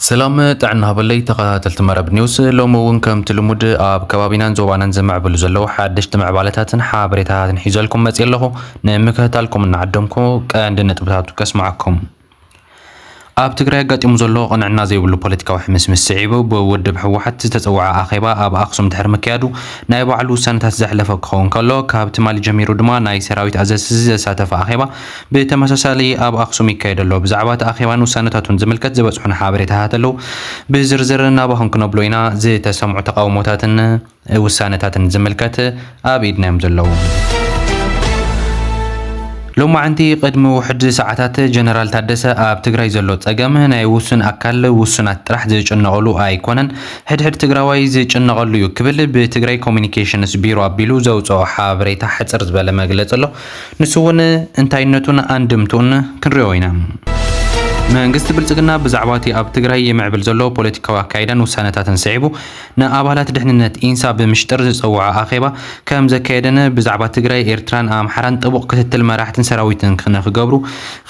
ሰላም ጥዕና ሃበለይ ተኸታተልቲ መረብ ኒውስ ሎሚ እውን ከምቲ ልሙድ ኣብ ከባቢናን ዞባናን ዝምዕብሉ ዘለዉ ሓደሽቲ ምዕባለታትን ሓበሬታታትን ሒዘልኩም መፅእ ኣለኹ ንምክትታልኩም እናዓደምኩ ቀንዲ ነጥብታቱ ከስማዓኩም ኣብ ትግራይ ኣጋጢሙ ዘሎ ቅንዕና ዘይብሉ ፖለቲካዊ ሕምስምስ ስዒቡ ብውድብ ህወሓት ዝተፀወዐ ኣኼባ ኣብ ኣክሱም ድሕሪ ምክያዱ ናይ ባዕሉ ውሳነታት ዘሕለፈ ክኸውን ከሎ ካብ ትማሊ ጀሚሩ ድማ ናይ ሰራዊት ኣዘዝቲ ዘሳተፈ ኣኼባ ብተመሳሳሊ ኣብ ኣክሱም ይካየድ ኣሎ። ብዛዕባ እቲ ኣኼባን ውሳነታቱን ዝምልከት ዝበፅሑና ሓበሬታታት ኣለው ብዝርዝር ናባኹም ክነብሎ ኢና። ዝተሰምዑ ተቓውሞታትን ውሳነታትን ዝምልከት ኣብ ኢድና'ዮም ዘለዉ። ሎማዕንቲ ቅድሚ ውሑድ ሰዓታት ጀነራል ታደሰ ኣብ ትግራይ ዘሎ ፀገም ናይ ውሱን ኣካል ውሱናት ጥራሕ ዝጭነቕሉ ኣይኮነን፣ ሕድሕድ ትግራዋይ ዝጭነቐሉ ዩ ክብል ብትግራይ ኮሙኒኬሽንስ ቢሮ ኣቢሉ ዘውፀኦ ሓበሬታ ሕፅር ዝበለ መግለፂ ኣሎ። ንሱ ውን እንታይነቱን ኣንድምትኡን ክንሪኦ ኢና። መንግስቲ ብልፅግና ብዛዕባ እቲ ኣብ ትግራይ ይምዕብል ዘሎ ፖለቲካዊ ኣካይዳን ውሳነታትን ስዒቡ፣ ንኣባላት ድሕንነት ኢንሳ ብምሽጥር ዝጸውዖ ኣኼባ ከም ዘካየደን ብዛዕባ ትግራይ፣ ኤርትራን ኣምሓራን ጥቡቕ ክትትል መራሕትን ሰራዊትን ንክገብሩ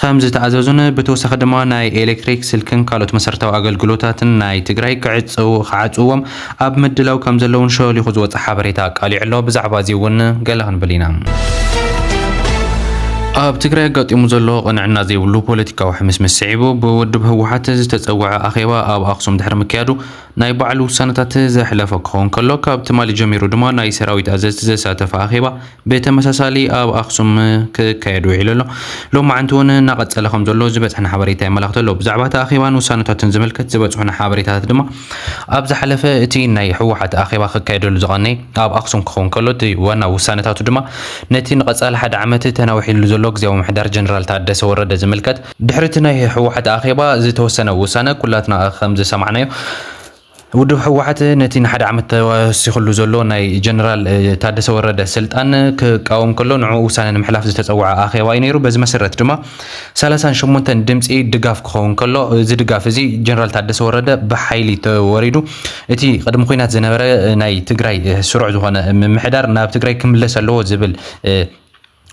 ከም ዝተኣዘዙን ብተወሳኺ ድማ ናይ ኤሌክትሪክ፣ ስልክን ካልኦት መሰረታዊ ኣገልግሎታትን ናይ ትግራይ ክዓጽውዎም ኣብ ምድላው ከም ዘለዉን ሸሊኹ ዝወጸ ሓበሬታ ኣቃሊዑ ኣሎ። ብዛዕባ እዚ እውን ገለ ክንብል ኢና። ኣብ ትግራይ ኣጋጢሙ ዘሎ ቅንዕና ዘይብሉ ፖለቲካዊ ሕምስምስ ስዒቡ ብውድብ ህወሓት ዝተጸውዐ ኣኼባ ኣብ ኣክሱም ድሕሪ ምክያዱ ናይ ባዕሉ ውሳነታት ዘሕለፈ ክኸውን ከሎ ካብ ትማሊ ጀሚሩ ድማ ናይ ሰራዊት ኣዘዝቲ ዘሳተፈ ኣኼባ ብተመሳሳሊ ኣብ ኣክሱም ክካየድ ውዒሉ ኣሎ። ሎማዕንቲ እውን እናቐፀለ ከምዘሎ ዝበፅሐና ሓበሬታ የመላኽት ኣሎ። ብዛዕባ እቲ ኣኼባን ውሳነታትን ዝምልከት ዝበፅሑና ሓበሬታታት ድማ ኣብ ዝሓለፈ እቲ ናይ ህወሓት ኣኼባ ክካየደሉ ዝቐነየ ኣብ ኣክሱም ክኸውን ከሎ እቲ ዋና ውሳነታቱ ድማ ነቲ ንቐፃሊ ሓደ ዓመት ተናዊሕሉ ዘሎ ግዝያዊ ምምሕዳር ጀነራል ታደሰ ወረደ ዝምልከት ድሕሪ እቲ ናይ ህወሓት ኣኼባ ዝተወሰነ ውሳነ ኩላትና ከምዝሰማዕናዮ ውድብ ህወሓት ነቲ ንሓደ ዓመት ተወሲኽሉ ዘሎ ናይ ጀነራል ታደሰ ወረደ ስልጣን ክቃወም ከሎ ንዕኡ ውሳነ ንምሕላፍ ዝተፀወዐ ኣኼባ እዩ ነይሩ። በዚ መሰረት ድማ ሰላሳን ሸሞንተን ድምፂ ድጋፍ ክኸውን ከሎ እዚ ድጋፍ እዚ ጀነራል ታደሰ ወረደ ብሓይሊ ተወሪዱ እቲ ቅድሚ ኩናት ዝነበረ ናይ ትግራይ ስሩዕ ዝኾነ ምምሕዳር ናብ ትግራይ ክምለስ ኣለዎ ዝብል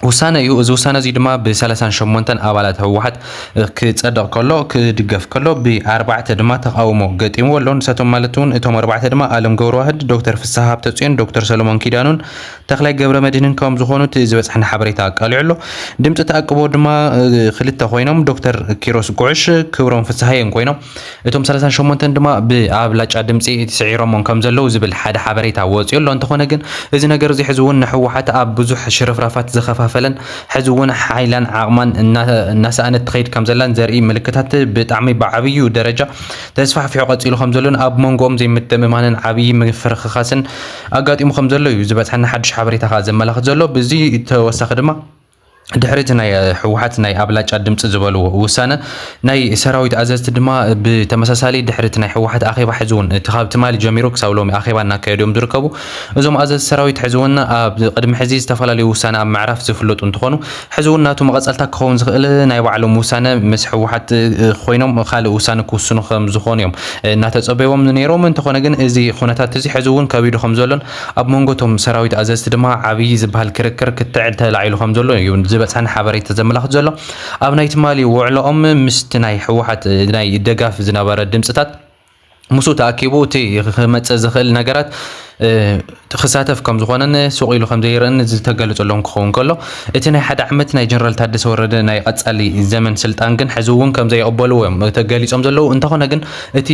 ውሳነ እዩ። እዚ ውሳነ እዚ ድማ ብሰላሳን ሸሞንተን ኣባላት ህወሓት ክፀደቕ ከሎ ክድገፍ ከሎ ብኣርባዕተ ድማ ተቓውሞ ገጢምዎ ኣሎ። ንሳቶም ማለት እውን እቶም ኣርባዕተ ድማ ኣለም ገብረዋህድ፣ ዶክተር ፍስሃ ሃብተፅዮን፣ ዶክተር ሰሎሞን ኪዳኑን ተኽላይ ገብረመድህንን ከም ዝኾኑ እቲ ዝበፅሐና ሓበሬታ ኣቃሊዑ ኣሎ። ድምፂ ተኣቅቦ ድማ ክልተ ኮይኖም ዶክተር ኪሮስ ጉዕሽ፣ ክብሮም ፍስሃየን ኮይኖም። እቶም ሰላሳን ሸሞንተን ድማ ብኣብላጫ ድምፂ ስዒሮሞም ከም ዘለዉ ዝብል ሓደ ሓበሬታ ወፂኡ ኣሎ። እንተኾነ ግን እዚ ነገር እዚ ሕዚ እውን ንህወሓት ኣብ ብዙሕ ሽርፍራፋት ዝኸፋፈለን ሕዚ እውን ሓይላን ዓቕማን እናሰኣነት ትኸይድ ከም ዘላን ዘርኢ ምልክታት ብጣዕሚ ብዓብዩ ደረጃ ተስፋሕፊሑ ቀፂሉ ከም ዘሎን ኣብ መንጎኦም ዘይምትእምማንን ዓብዪ ምፍርኽኻስን ኣጋጢሙ ከም ዘሎ እዩ ዝበፅሐና ሓዱሽ ሓበሬታ ከዓ ዘመላኽት ዘሎ። ብዚ ተወሳኺ ድማ ድሕሪ እቲ ናይ ህወሓት ናይ ኣብላጫ ድምፂ ዝበልዎ ውሳነ ናይ ሰራዊት ኣዘዝቲ ድማ ብተመሳሳሊ ድሕሪ እቲ ናይ ህወሓት ኣኼባ ሕዚ እውን እቲ ካብ ትማሊ ጀሚሩ ክሳብ ሎሚ ኣኼባ እናካየዱ እዮም ዝርከቡ እዞም ኣዘዝቲ ሰራዊት ሕዚ እውን ኣብ ቅድሚ ሕዚ ዝተፈላለዩ ውሳነ ኣብ ምዕራፍ ዝፍለጡ እንትኾኑ ሕዚ እውን ናቱ መቐፀልታ ክኸውን ዝኽእል ናይ ባዕሎም ውሳነ ምስ ህወሓት ኮይኖም ካልእ ውሳነ ክውስኑ ከም ዝኾኑ እዮም እናተፀበይዎም ነይሮም እንተኾነ ግን እዚ ኩነታት እዚ ሕዚ እውን ከቢዱ ከም ዘሎን ኣብ መንጎ እቶም ሰራዊት ኣዘዝቲ ድማ ዓብዪ ዝበሃል ክርክር ክትዕ ተላዒሉ ከምዘሎ እዩ ዝበፅሐና ሓበሬታ ዘመላኽት ዘሎ። ኣብ ናይ ትማሊ ውዕሎኦም ምስቲ ናይ ህወሓት ናይ ደጋፊ ዝነበረ ድምፅታት ምስኡ ተኣኪቡ እቲ ክመፅእ ዝኽእል ነገራት ክሳተፍ ከም ዝኾነን ሱቕ ኢሉ ከም ዘይርእን ዝተገለፀሎም ክኸውን ከሎ እቲ ናይ ሓደ ዓመት ናይ ጀነራል ታደሰ ወረደ ናይ ቐፃሊ ዘመን ስልጣን ግን ሕዚ እውን ከም ዘይቕበልዎ እዮም ተገሊፆም ዘለዉ እንተኾነ ግን እቲ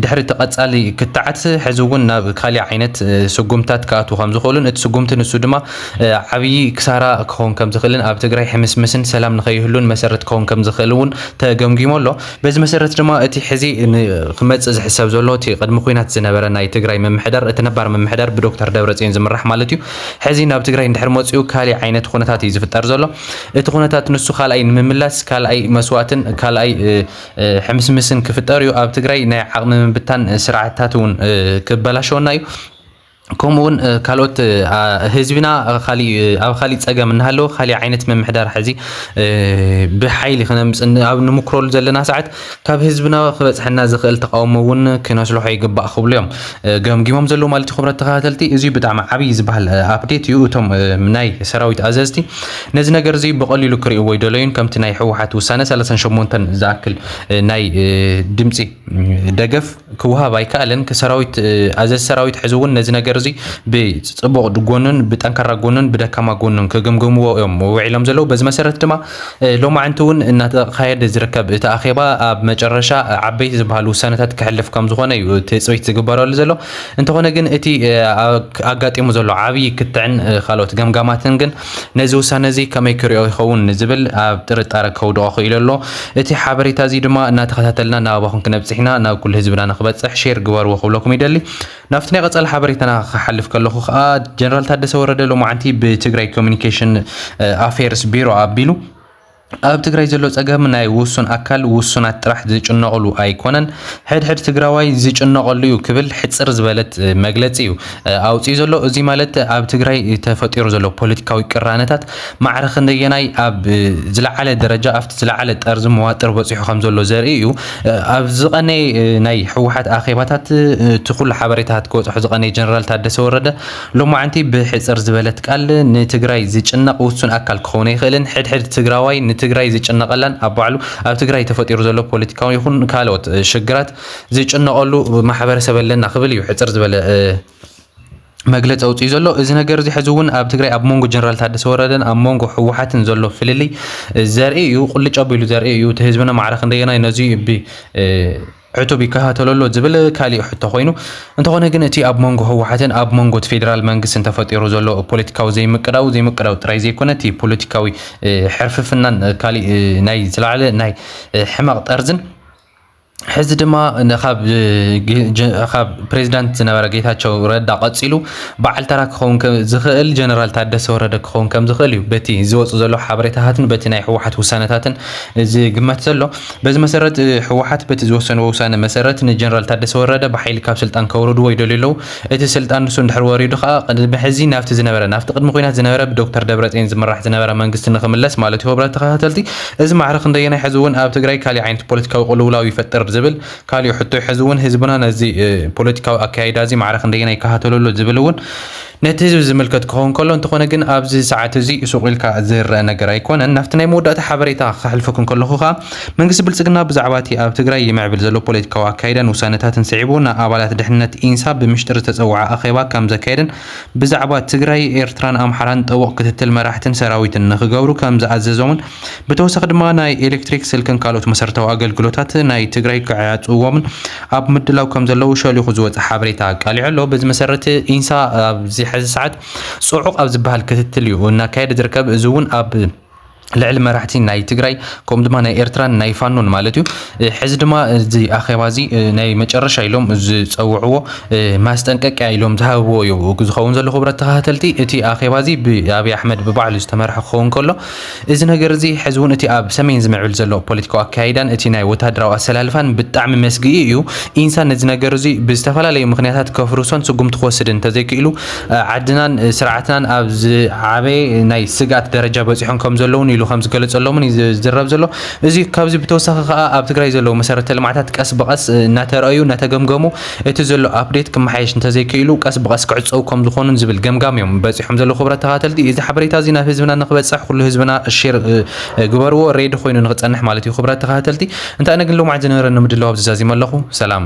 ድሕሪ እቲ ቀጻሊ ክትዓት ሕዚ እውን ናብ ካሊእ ዓይነት ስጉምትታት ክኣትዉ ከምዝኽእሉን እቲ ስጉምቲ ንሱ ድማ ዓብዪ ክሳራ ክኸውን ከምዝኽእልን ኣብ ትግራይ ሕምስምስን ሰላም ንከይህሉን መሰረት ክኸውን ከምዝኽእል እውን ተገምጊሙ ኣሎ። በዚ መሰረት ድማ እቲ ሕዚ ንክመፅእ ዝሕሰብ ዘሎ እቲ ቅድሚ ኹናት ዝነበረ ናይ ትግራይ ምምሕዳር እቲ ነባር ምምሕዳር ብዶክተር ደብረፅዮን ዝምራሕ ማለት እዩ ሕዚ ናብ ትግራይ እንድሕር መፂኡ ካሊእ ዓይነት ኹነታት እዩ ዝፍጠር ዘሎ እቲ ኹነታት ንሱ ካልኣይ ንምምላስ ካልኣይ መስዋእትን ካልኣይ ሕምስምስን ክፍጠር እዩ ኣብ ትግራይ ናይ ዓቕሚ ምብታን ስርዓትታት እውን ክበላሸወና እዩ ከምኡ እውን ካልኦት ህዝብና ኣብ ካሊእ ፀገም እናሃለወ ካሊእ ዓይነት ምምሕዳር ሕዚ ብሓይሊ ክነምፅ ኣብ ንምክረሉ ዘለና ሰዓት ካብ ህዝብና ክበፅሐና ዝኽእል ተቃውሞ እውን ክነስልሖ ይግባእ ክብሉ እዮም ገምጊሞም ዘለዉ ማለት እዩ ክብረት ተኸታተልቲ እዚ ብጣዕሚ ዓብዪ ዝበሃል ኣፕዴት እዩ እቶም ናይ ሰራዊት ኣዘዝቲ ነዚ ነገር እዚ ብቐሊሉ ክርእይዎ ኣይደለዩን። ከምቲ ናይ ህወሓት ውሳነ ሰላሳን ሸሞንተን ዝኣክል ናይ ድምፂ ደገፍ ክወሃብ ኣይከኣለን። ከሰራዊት ኣዘዚ ሰራዊት ሕዚ እውን ነዚ ነገር እዚ ብፅቡቕ ጎኑን ብጠንካራ ጎኑን ብደካማ ጎኑን ክግምግምዎ እዮም ውዒሎም ዘለዉ። በዚ መሰረት ድማ ሎማዕንቲ እውን እናተኻየደ ዝርከብ እቲ ኣኼባ ኣብ መጨረሻ ዓበይቲ ዝበሃሉ ውሳነታት ክሕልፍ ከም ዝኾነ እዩ ትፅቢት ዝግበረሉ ዘሎ። እንተኾነ ግን እቲ ኣጋጢሙ ዘሎ ዓብዪ ክትዕን ካልኦት ገምጋማትን ግን ነዚ ውሳነ እዚ ከመይ ክሪኦ ይኸውን ንዝብል ኣብ ጥርጣረ ከውድቖ ክኢሉ ኣሎ። እቲ ሓበሬታ እዚ ድማ እናተኸታተልና ናባኹም ክነብፅሕ ኢና፣ ናብ ኩሉ ህዝብና ንክበፅሕ ሼር ግበርዎ ክብለኩም ይደሊ። ናብቲ ናይ ቐፃሊ ሓበሬታና ክሓልፍ ከለኹ ከዓ ጀነራል ታደሰ ወረደ ሎማዓንቲ ብትግራይ ኮሙኒኬሽን ኣፌርስ ቢሮ ኣቢሉ ኣብ ትግራይ ዘሎ ፀገም ናይ ውሱን ኣካል ውሱናት ጥራሕ ዝጭነቕሉ ኣይኮነን፣ ሕድሕድ ትግራዋይ ዝጭነቐሉ እዩ ክብል ሕፅር ዝበለት መግለፂ እዩ ኣውፂኡ ዘሎ። እዙይ ማለት ኣብ ትግራይ ተፈጢሩ ዘሎ ፖለቲካዊ ቅራነታት ማዕረ ክንደየናይ ኣብ ዝለዓለ ደረጃ ኣብቲ ዝለዓለ ጠርዚ መዋጥር በፂሑ ከምዘሎ ዘርኢ እዩ። ኣብ ዝቐነየ ናይ ህወሓት ኣኼባታት እቲ ኩሉ ሓበሬታታት ክበፅሖ ዝቐነየ ጀነራል ታደሰ ወረደ ሎማዕንቲ ብሕጽር ዝበለት ቃል ንትግራይ ዝጭነቕ ውሱን ኣካል ክኸውን ኣይኽእልን። ሕድሕድ ትግራዋይ ንትግራይ ዝጭነቐላን ኣብ ባዕሉ ኣብ ትግራይ ተፈጢሩ ዘሎ ፖለቲካዊ ይኹን ካልኦት ሽግራት ዝጭነቐሉ ማሕበረሰብ ኣለና ክብል እዩ ሕጽር ዝበለ መግለጺ ኣውጺኡ ዘሎ። እዚ ነገር እዚ ሕዚ እውን ኣብ ትግራይ ኣብ መንጎ ጀነራል ታደሰ ወረደን ኣብ መንጎ ህወሓትን ዘሎ ፍልልይ ዘርኢ እዩ፣ ቁልጭ ኣቢሉ ዘርኢ እዩ። እቲ ህዝብና ማዕረ ክንደየናይ ነዚ ብ ዕቱብ ይከታተሎ ኣሎ ዝብል ካሊእ ሕቶ ኮይኑ፣ እንተኾነ ግን እቲ ኣብ መንጎ ህወሓትን ኣብ መንጎ እቲ ፌዴራል መንግስትን ተፈጢሩ ዘሎ ፖለቲካዊ ዘይምቅዳው ዘይምቅዳው ጥራይ ዘይኮነ እቲ ፖለቲካዊ ሕርፍፍናን ካሊእ ናይ ዝለዓለ ናይ ሕመቕ ጠርዝን ሕዚ ድማ ካብ ካብ ፕሬዚዳንት ዝነበረ ጌታቸው ረዳ ቀፂሉ በዓል ተራ ክኸውን ዝኽእል ጀነራል ታደሰ ወረደ ክኸውን ከም ዝኽእል እዩ በቲ ዝወፁ ዘሎ ሓበሬታታትን በቲ ናይ ህወሓት ውሳነታትን ዝግመት ዘሎ በዚ መሰረት ህወሓት በቲ ዝወሰንዎ ውሳነ መሰረት ንጀነራል ታደሰ ወረደ ብሓይሊ ካብ ስልጣን ከውርድዎ ይደልዩ ኣለዉ። እቲ ስልጣን ንሱ እንድሕር ወሪዱ ከኣ ቅድሚ ሕዚ ናብቲ ዝነበረ ናብቲ ቅድሚ ኲናት ዝነበረ ብዶክተር ደብረጼን ዝምራሕ ዝነበረ መንግስቲ ንኽምለስ ማለትዩ ክብረት ተኸታተልቲ እዚ ማዕረ ክንደየናይ ሕዚውን ኣብ ትግራይ ካሊእ ዓይነት ፖለቲካዊ ቅልውላው ይፈጥር ዝብል ካሊእ ሕቶዩ ሕዚውን ህዝብና ነዚ ፖለቲካዊ ኣካያይዳዚ ማዕረ ክንደየናይ ይከታተሎ ኣሎ ዝብልውን ነቲ ህዝቢ ዝምልከት ክኸውን ከሎ እንተኾነ ግን ኣብዚ ሰዓት እዚ ሱቕ ኢልካ ዝረኣ ነገር ኣይኮነን። ናብቲ ናይ መወዳእታ ሓበሬታ ከሕልፈኩም ከለኹ ከኣ መንግስቲ ብልጽግና ብዛዕባ እቲ ኣብ ትግራይ ይምዕብል ዘሎ ፖለቲካዊ ኣካይዳን ውሳነታትን ስዒቡ ንኣባላት ድሕንነት ኢንሳ ብምሽጥር ዝተጸውዓ ኣኼባ ከምዘካየደን ብዛዕባ ትግራይ ኤርትራን ኣምሓራን ጥቡቕ ክትትል መራሕትን ሰራዊትን ንክገብሩ ከምዝኣዘዞምን ብተወሳኺ ድማ ናይ ኤሌክትሪክ፣ ስልክን ካልኦት መሰረታዊ ኣገልግሎታት ናይ ትግራይ ክዕፅዎምን ኣብ ምድላው ከምዘለዉ ሸሊኹ ዝወፀ ሓበሬታ ኣቃሊዑ ኣሎ። በዚ መሰረት ኢንሳ ኣብዚ ሕዚ ሰዓት ፅዑቕ ኣብ ዝበሃል ክትትል እዩ እናካየደ ዝርከብ። እዚ እውን ኣብ ልዕሊ መራሕቲ ናይ ትግራይ ከምኡ ድማ ናይ ኤርትራን ናይ ፋኖን ማለት እዩ። ሕዚ ድማ እዚ ኣኼባ እዚ ናይ መጨረሻ ኢሎም ዝፀውዕዎ ማስጠንቀቂያ ኢሎም ዝሃብዎ እዩ ዝኸውን ዘሎ። ክቡራት ተኸታተልቲ እቲ ኣኼባ እዚ ብኣብይ ኣሕመድ ብባዕሉ ዝተመርሐ ክኸውን ከሎ እዚ ነገር እዚ ሕዚ እውን እቲ ኣብ ሰሜን ዝምዕብል ዘሎ ፖለቲካዊ ኣከያይዳን እቲ ናይ ወተሃደራዊ ኣሰላልፋን ብጣዕሚ መስግኢ እዩ። ኢንሳ ነዚ ነገር እዚ ብዝተፈላለዩ ምኽንያታት ከፍርሶን ስጉምቲ ክወስድን እንተዘይክኢሉ ዓድናን ስርዓትናን ኣብ ዝዓበየ ናይ ስግኣት ደረጃ በፂሖም ከምዘለዉ እውን ኢሉ ከምዝገለፀሎምን እዩ ዝዝረብ ዘሎ። እዚ ካብዚ ብተወሳኺ ከዓ ኣብ ትግራይ ዘለዉ መሰረተ ልምዓታት ቀስ ብቐስ እናተርኣዩ እናተገምገሙ እቲ ዘሎ ኣፕዴት ክመሓየሽ እንተዘይክኢሉ ቀስ ብቐስ ክዕጸዉ ከምዝኾኑን ዝብል ገምጋም'ዮም በጺሖም ዘለዉ ክብራት ተኻተልቲ። እዚ ሓበሬታ'ዚ ናብ ህዝብና ንክበጽሕ ኩሉ ህዝብና ሼር ግበርዎ ሬድዮ ኮይኑ ንክጸንሕ ማለት'ዩ ክብራት ተኻታተልቲ። እንታይ ኣነ ግን ሎምዓንቲ ዝነበረኒ ምድላው ኣብዚ ዛዚመ ኣለኹ። ሰላም።